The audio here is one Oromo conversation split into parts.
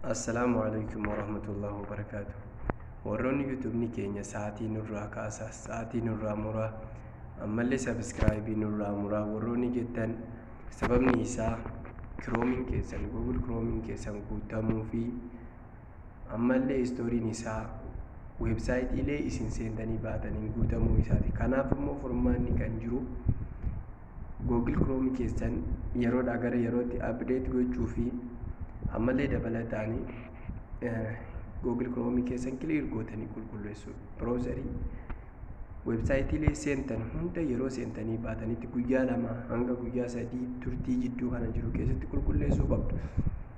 Assalaamu alaikum warahmatullahi wabarakaatu. Warroonni yuutuubni keenya sa'aatii nurraa kaasaa, sa'aatii nurraa muraa, ammallee sabiskiraayibii nurraa muraa warroonni jettan sababni isaa kiroomiin keessan Google kiroomiin keessan guutamuu fi ammallee istooriin isaa weebsaayitiilee isin seentanii baataniin guutamuu isaati. Kanaaf immoo furmaanni kan jiru Google Chrome keessan yeroodhaa gara yerootti update gochuu fi ammallee dabalataani Google Chrome keessan clear gootanii qulqulleessuu browserii websaayitiilee seentan hunda yeroo seentanii baatanitti guyyaa lama hanga guyyaa sadii turtii jidduu kana jiru keessatti qulqulleessuu qabdu.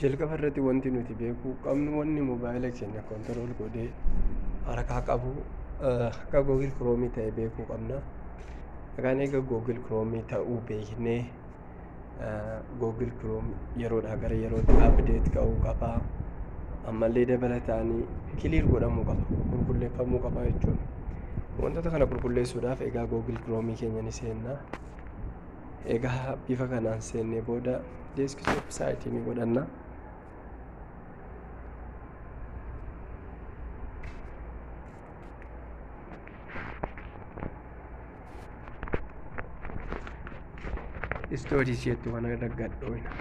jalqaba irratti wanti nuti beekuu qabnu wanni mobaayila keenya kontirool godhee harkaa qabu akka googil kiroomii ta'e beekuu qabna. Kan egaa googil kiroomii ta'uu beeknee googil kiroom yeroodhaa gara yerootti abdeet ka'uu qaba. Ammallee dabalataanii kiliir godhamuu qaba qulqulleeffamuu qaba jechuudha. Wantoota kana qulqulleessuudhaaf egaa googil kiroomii keenya ni seenna. Egaa bifa kanaan seennee booda deeskitoop saayitii ni godhanna. Istoorii isheetti waan irra gadhooyna.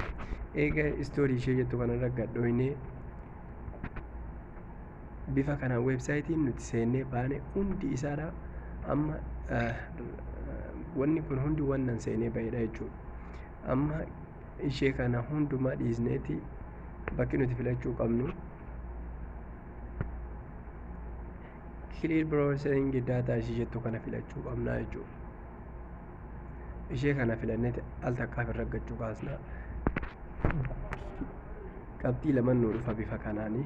Egaa istoorii ishee jettu kana irra gadhooynee bifa kana weebsaayitiin nuti seennee baane hundi isaadha amma wanni kun hundi wannan seenee ba'edha jechuudha. Amma ishee kana hundumaa dhiisneeti bakki nuti filachuu qabnu clear browsing data ishee jettu kana filachuu qabna jechuudha. Ishee kana filanneeti al takkaaf irra gachuu kaasna. Qabxii lama nu dhufa bifa kanaanii.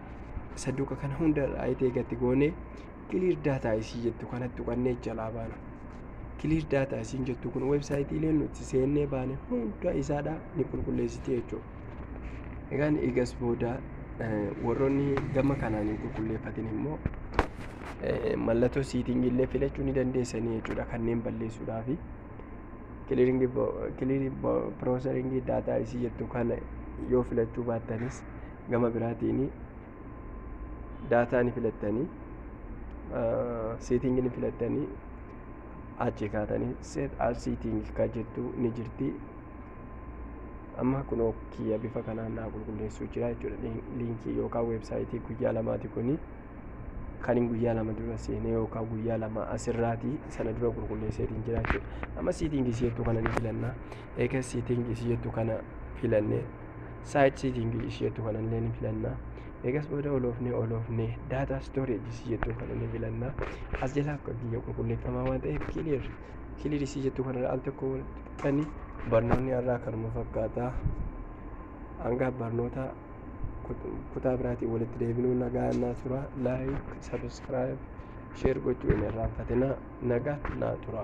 saduuqa kana hunda irraa itee gatti goonee kiliir daataa isii jettu kanatti tuqannee jalaa baana. Kiliir daataa isiin jettu kun weebsaayitiilee nuti seennee baane hunda isaadhaa ni qulqulleessiti jechuudha. Egaan eegas booda warroonni gama kanaan hin qulqulleeffatin immoo mallattoo siitingii illee filachuu ni dandeessanii jechuudha kanneen balleessuudhaaf. Kiliiringii piroosaringii daataa isii jettu kana yoo filachuu baattanis Gama biraatiin daataa ni filattanii seetingii ni filattanii achi kaatanii set as seeting ka jettu ni jirti. Amma kunoo kiyya bifa kanaan naa qulqulleessuu jira jechuudha. Liinkii yookaan weebsaayitii guyyaa lamaati kuni. Kan hin guyyaa lama dura seenee yookaan guyyaa lama asirraati sana dura qulqulleesseetiin jira jechuudha. Amma seetingii si jettu kana ni filanna. Eegas seetingii si jettu kana filannee site setting is jettu kana illee ni filanna eegas booda oloofne oloofne data storage is jettu kana ni filanna as jalaa akka biyya qulqulleeffamaa waan ta'eef clear clear is jettu kana al tokko kan barnoonni irraa kanuma fakkaata hanga barnoota kutaa biraatiin walitti deebinuu nagaa naa tura laayik sabiskiraayib sheer gochuu hin irraanfatina nagaa naa tura.